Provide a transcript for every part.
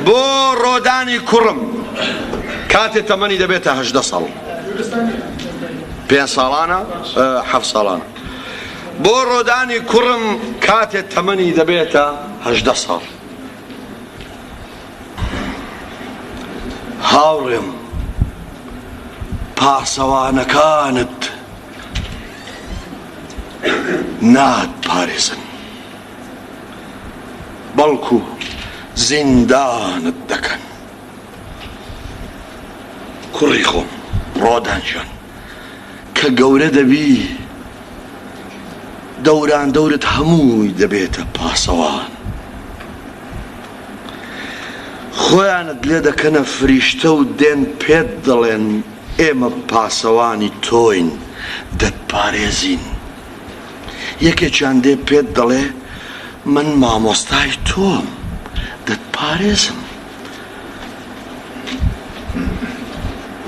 بۆ ڕۆدانی کوڕم کاتێ تەمەنی دەبێتە هەژدە ساڵ پێ ساڵانە حەف ساڵان بۆ ڕۆدانی کوڕم کاتێ تەمەنی دەبێتە هەژدە ساڵ هاوڕێم پاسەوانەکانت نات پارێزن بەڵکو زیندانت دەکەن کوڕی خۆم ڕۆدان جان کە گەورە دەبی دەوران دەورت هەمووی دەبێتە پاسەوان خۆیانت لێ دەکەنە فریشتە و دێن پێت دەڵێن ئێمە پاسەوانی تۆین دەتپارێزین یەکێکیان دێ پێت دەڵێ من مامۆستای تۆم دەتپارێزم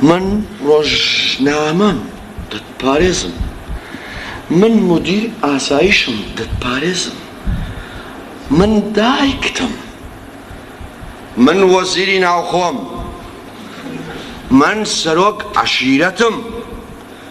من ڕۆژنامەم دەتپارێزم من مدیر ئاسایشم دەتپارێزم من دایکتم من وەزیری ناوخۆم من سەرۆک عەشیرەتم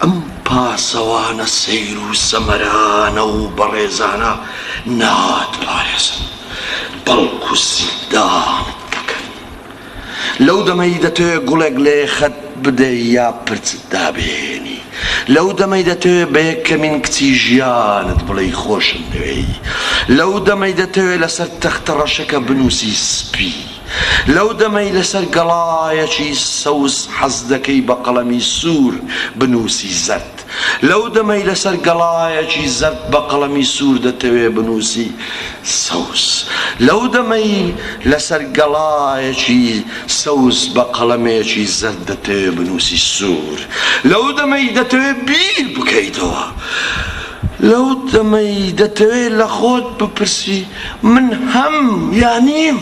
ئەم پاسەوانە سەیر و سەمەرانە و بەڕێزانە ناتپارێزن، بەڵکو زیندانت دەکەن. لەو دەمەی دەتەوێ گوڵێک لە یەخەت بدەی یا پرچت دابهێنی، لەو دەمەی دەتەوێ بە یەکەمین کچی ژیانت بڵێی خۆشمدەوێی، لەو دەمەی دەتەوێ لەسەر تەختەڕەشەکە بنووسی سپی. لەو دەمەی لەسەر گەڵایەکی سەوز حەز دەکەی بە قەڵەمی سوور بنووسی زەرد، لەو دەمەی لەسەر گەڵایەکی زەرد بە قەڵەمی سوور دەتەوێ بنووسی سەوز، لەو دەمەی لەسەر گەڵایەکی سەوز بە قەڵەمێکی زەرد دەتەوێ بنووسی سوور، لەو دەمەی دەتەوێ بیر بکەیتەوە، لەو دەمەی دەتەوێ لە خۆت بپرسی. من هەم یا نیم،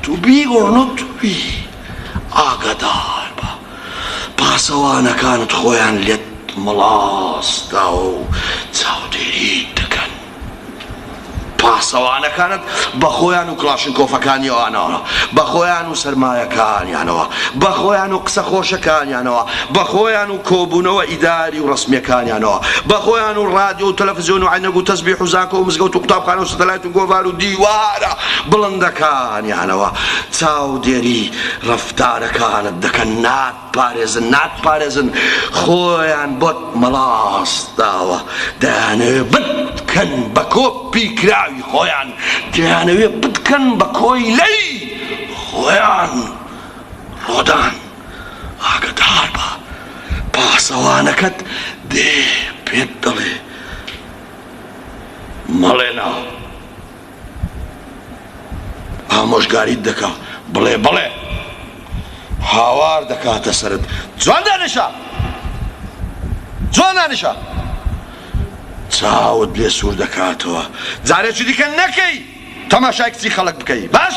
to be or not to be، ئاگاداربە پاسەوانەکانت خۆیان لێت مەڵاسداوە و چاودێریت دەکەن. پاسەوانەکانت بە خۆیان و کڵاشنکۆفەکانیانەوە، بە خۆیان و سەرمایەکانیانەوە، بە خۆیان و قسە خۆشەکانیانەوە، بە خۆیان و. کۆبوونەوە ئیداری و ڕەسمیەکانیانەوە بە خۆیان و ڕادیۆ و تەلەفزیۆن و عەینەک و تەزبیح و زانکۆ و مزگەوت و قوتابخانە و ستەلایت و گۆڤار و دیوارە بڵندەکانیانەوە چاودێری ڕەفتارەکانت دەکەن ناتپارێزن ناتپارێزن خۆیان بۆت مەڵاست داوە دەیانەوێ بتکەن بە کۆ پی کراوی خۆیان دەیانەوێ بتکەن بە کۆیلەی خۆیان ڕۆدان. ئاگەدار بە پاسەوانەکەت دێ پێت دەڵێ مەڵێ نا ئامۆژگاریت دەکا بڵێ بەڵێ هاوار دەکاتە سەرت جوان دانیشە جوان دانیشە چاوت لێ سوور دەکاتەوە جارێکی دیکە نەکەی تەماشای کچی خەڵک بکەی باش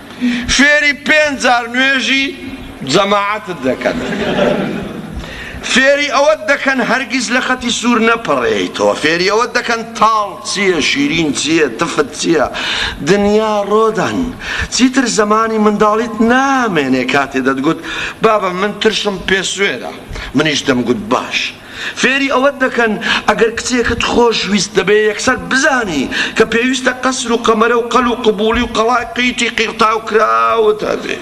فێری پێنج جار نوێژی جەماعەتت دەکەن فێری ئەوەت دەکەن هەرگیز لە خەتی سوور نەپەڕێیتەوە فێری ئەوەت دەکەن تاڵ چییە شیرین چییە تفت چییە دنیا ڕۆدان چیتر زەمانی منداڵیت نامێنێ کاتێ دەتگوت بابە من ترشم پێ سوێرە منیش دەمگوت باش فێری ئەوەت دەکەن ئەگەر کچێکت خۆش ویست دەبێ یەکسەر بزانی کە پێویستە قەسر و قەمەرە و قەل و قبوڵی و قەڵای قیتی قیڕتاو کراوت هەبێ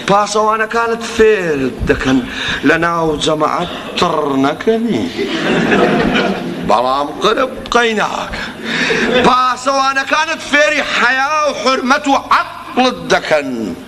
پاسەوانەکانت فێرت دەکەن لە ناو جەمەعات تڕ نەکەنی بەڵام قرپ قەی ناکەن پاسەوانەکانت فێری حەیا و حورمەت و عەقڵت دەکەن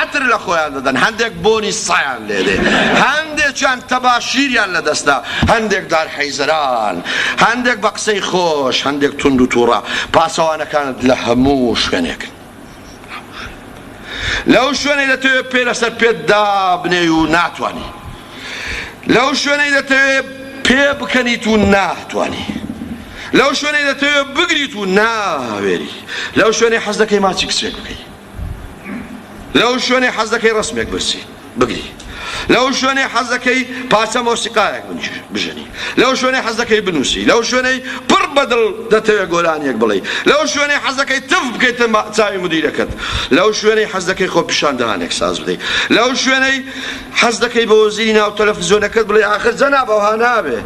عەتر لە خۆیان دەدەن، هەندێک بۆنی سایان لێ دێ، هەندێکیان تەباشیریان لە دەستە، هەندێک دار حیزران، هەندێک بە قسەی خۆش، هەندێک توند و تووڕە. پاسەوانەکانت لە هەموو شوێنێکن. لەو شوێنەی دەتەوێ پێ لەسەر پێت دابنێی و ناتوانی. لەو شوێنەی دەتەوێ پێ بکەنیت و ناتوانی. لەو شوێنەی دەتەوێ بگریت و ناوێری. لەو شوێنەی حەز دەکەی ماچی کچێک بکەی. لەو شوێنەی حەز دەکەی ڕەسمێک برسی بگری لەو شوێنەی حەز دەکەی پارچە مۆسیقایەک بژەنی لەو شوێنەی حەز دەکەی بنووسی لەو شوێنەی پڕ بەدڵ دەتەوێت گۆرانیەک بڵێ لەو شوێنەی حەز دەکەی تف بکەیتە چاوی مدیرەکەت لەو شوێنەی حەز دەکەی خۆ پیشاندانێک ساز بدەیت لەو شوێنەی حەز دەکەی بە وەزیری ناو تەلەفزیۆنەکەت بڵێ ئاخر جەناب ئەوها نابێ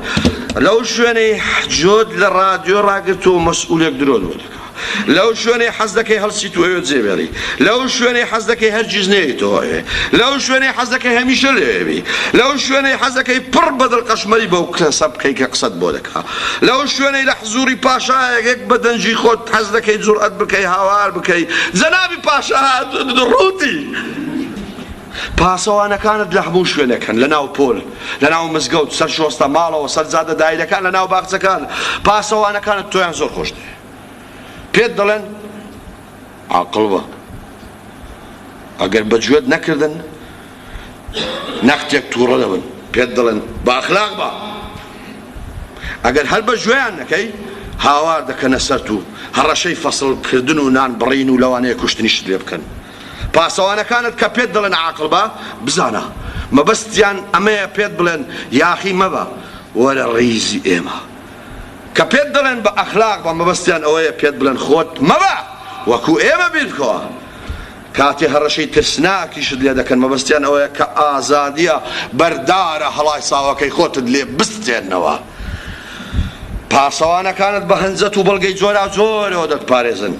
لەو شوێنەی جۆت لە ڕادیۆ ڕاگرتو مەسئولێک درۆ لەو شوێنەی حەز دەکەی هەڵسیت و ئەوێ جێبێڵی لەو شوێنەی حەز دەکەی هەرگیز نێیتەوە ئەوێ لەو شوێنەی حەز دەکەی هەمیشە لەوێبی لەو شوێنەی حەز دەکەی پڕ بە دڵقەشمەری بەو کەسە بکەی کە قسەت بۆ دەکا لەو شوێنەی لە حزوری پاشایەک بە دەنگی خۆت حەز دەکەی جوڕئەت بکەی هاوار بکەی جەنابی پاشا هاتوون ڕووتی پاسەوانەکانت لە هەموو شوێنەکەن لە ناو پۆل لە ناو مزگەوت سەر شۆستە ماڵەوە سەر جادە دایرەکان لە ناو باخچەکان پاسەوانەکانت تۆیان زۆر خۆشت پێت دەڵێن عاقڵ بە ئەگەر بە گوێت نەکردن نەختێک تووڕە دەبن پێت دەڵێن بە ئەخلاق بە ئەگەر هەر بە گوێیان نەکەی هاوار دەکەنە سەر و هەڕەشەی فەسڵکردن و نان بڕین و لەوانەیە کوشتنیشت لێ بکەن پاسەوانەکانت کە پێت دەڵێن عاقڵ بە بزانە مەبەستیان ئەمەیە پێت بڵێن یاخی مەبە وەرە ڕیزی ئێمە کە پێت دەڵێن بە ئەخلاق بە مەبەستیان ئەوەیە پێت بڵێن خۆت مەبە وەکو ئێمە بیرکە کاتێ هەڕەشەی ترسناکیشت لێ دەکەن مەبەستیان ئەوەیە کە ئازادیە بەردارە هەڵای ساوەکەی خۆتت لێ بستێنەوە پاسەوانەکانت بە هەنجەت و بەڵگەی جۆراوجۆرەوە دەتپارێزن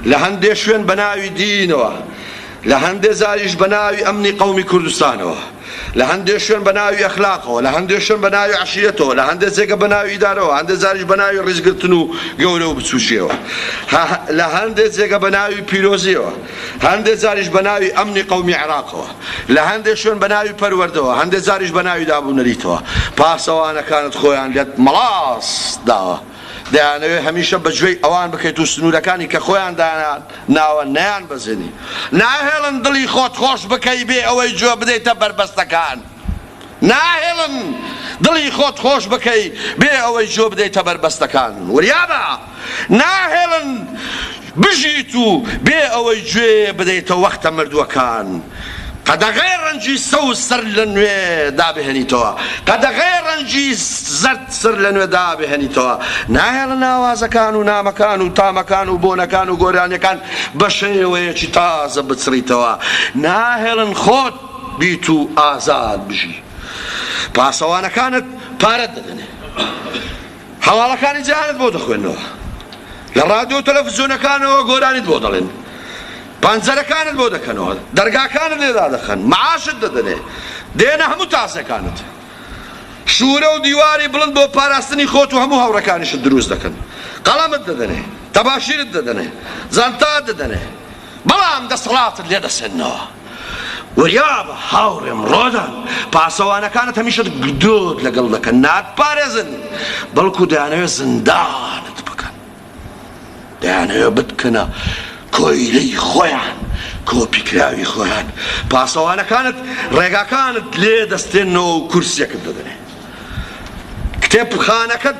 لە هەندێ شوێن بە ناوی دینەوە لە هەندێ جاریش بە ناوی ئەمنی قەومی کوردستانەوە، لە هەندێ شوێن بە ناوی ئەخلاقەوە، لە هەندێ شوێن بە ناوی عەشیرەتەوە، لە هەندێ جێگە بە ناوی ئیدارەوە، هەندێ جاریش بە ناوی ڕیزگرتن و گەورە و بچووکییەوە، لە هەندێ جێگە بە ناوی پیرۆزییەوە، هەندێ جاریش بە ناوی ئەمنی قەومی عێراقەوە، لە هەندێ شوێن بە ناوی پەروەردەوە، هەندێ جاریش بە ناوی دابونەریتەوە. پاسەوانەکانت خۆیان لێت مەڵاس داوە. دەیانەوێت هەمیشە بە گوێی ئەوان بکەیت و سنوورەکانی کە خۆیان داناناوە نەیانبەزێنی. ناهێڵن دڵی خۆت خۆش بکەی بێ ئەوەی گوێ بدەیتە بەربەستەکان. ناهێڵن دڵی خۆت خۆش بکەی بێ ئەوەی گوێ بدەیتە بەربەستەکان. وریابە! ناهێڵن بژیت و بێ ئەوەی گوێ بدەیتە وەختە مردووەکان. قەدەغەیە ڕەنگی سەوز سەر لە نوێ دابهێنیتەوە قەدەغەیە ڕەنگی زەرد سەر لە نوێ دابهێنیتەوە ناهێڵن ئاوازەکان و نامەکان و تامەکان و بۆنەکان و گۆرانیەکان بە شێوەیەکی تازە بچڕیتەوە ناهێڵن خۆت بیت و ئازاد بژی پاسەوانەکانت پارەت دەدەنێ. هەواڵەکانی جیهانت بۆ دەخوێننەوە. لە ڕادیۆ و تەلەفزیۆنەکانەوە گۆرانیت بۆ دەڵێن. پەنجەرەکانت بۆ دەکەنەوە. دەرگاکانت لێ دادەخەن. مەعاشت دەدەنێ. دێنە هەموو تاسەکانت. شوورە و دیواری بڵند بۆ پاراستنی خۆت و هەموو هاوڕێکانیشت دروست دەکەن. قەڵەمت دەدەنێ. تەباشیرت دەدەنێ. جانتات دەدەنێ. بەڵام دەسەڵاتت لێ دەسەننەوە. وریابە هاوڕێم ڕۆدان، پاسەوانەکانت هەمیشە گدۆت لەگەڵ دەکەن، ناتپارێزن، بەڵکو دەیانەوێت زیندانت بکەن. دەیانەوێت بتکەنە کۆیلەی خۆیان، کۆپیکراوی خۆیان. پاسەوانەکانت ڕێگاکانت لێ دەستێننەوە و کورسیەکت دەدەنێ. کتێبخانەکەت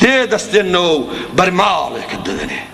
لێ دەستێننەوە و بەرماڵێکت دەدەنێ.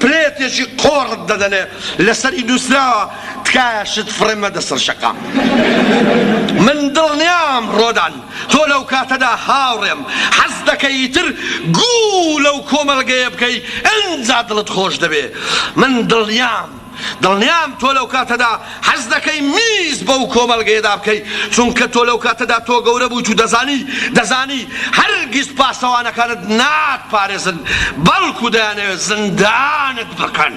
پلێتێکی قۆڕت دەدەنێ لەسەری نوسراوە تکایە شت فڕێ مەدە سەر شەقام من دڵنیام ڕۆدان تۆ لەو کاتەدا هاوڕێم حەز دەکەی ئیتر گوو لەو کۆمەڵگەیە بکەی ئەنجا دڵت خۆش دەبێ من دڵنیام دڵنیام تۆ لەو کاتەدا حەز دەکەی میز بەو کۆمەڵگەیەدا بکەی، چونکە تۆ لەو کاتەدا تۆ گەورە بوویت و دەزانی، دەزانی هەرگیز پاسەوانەکانت ناتپارێزن، بەڵکو دەیانەوێت زیندانت بکەن.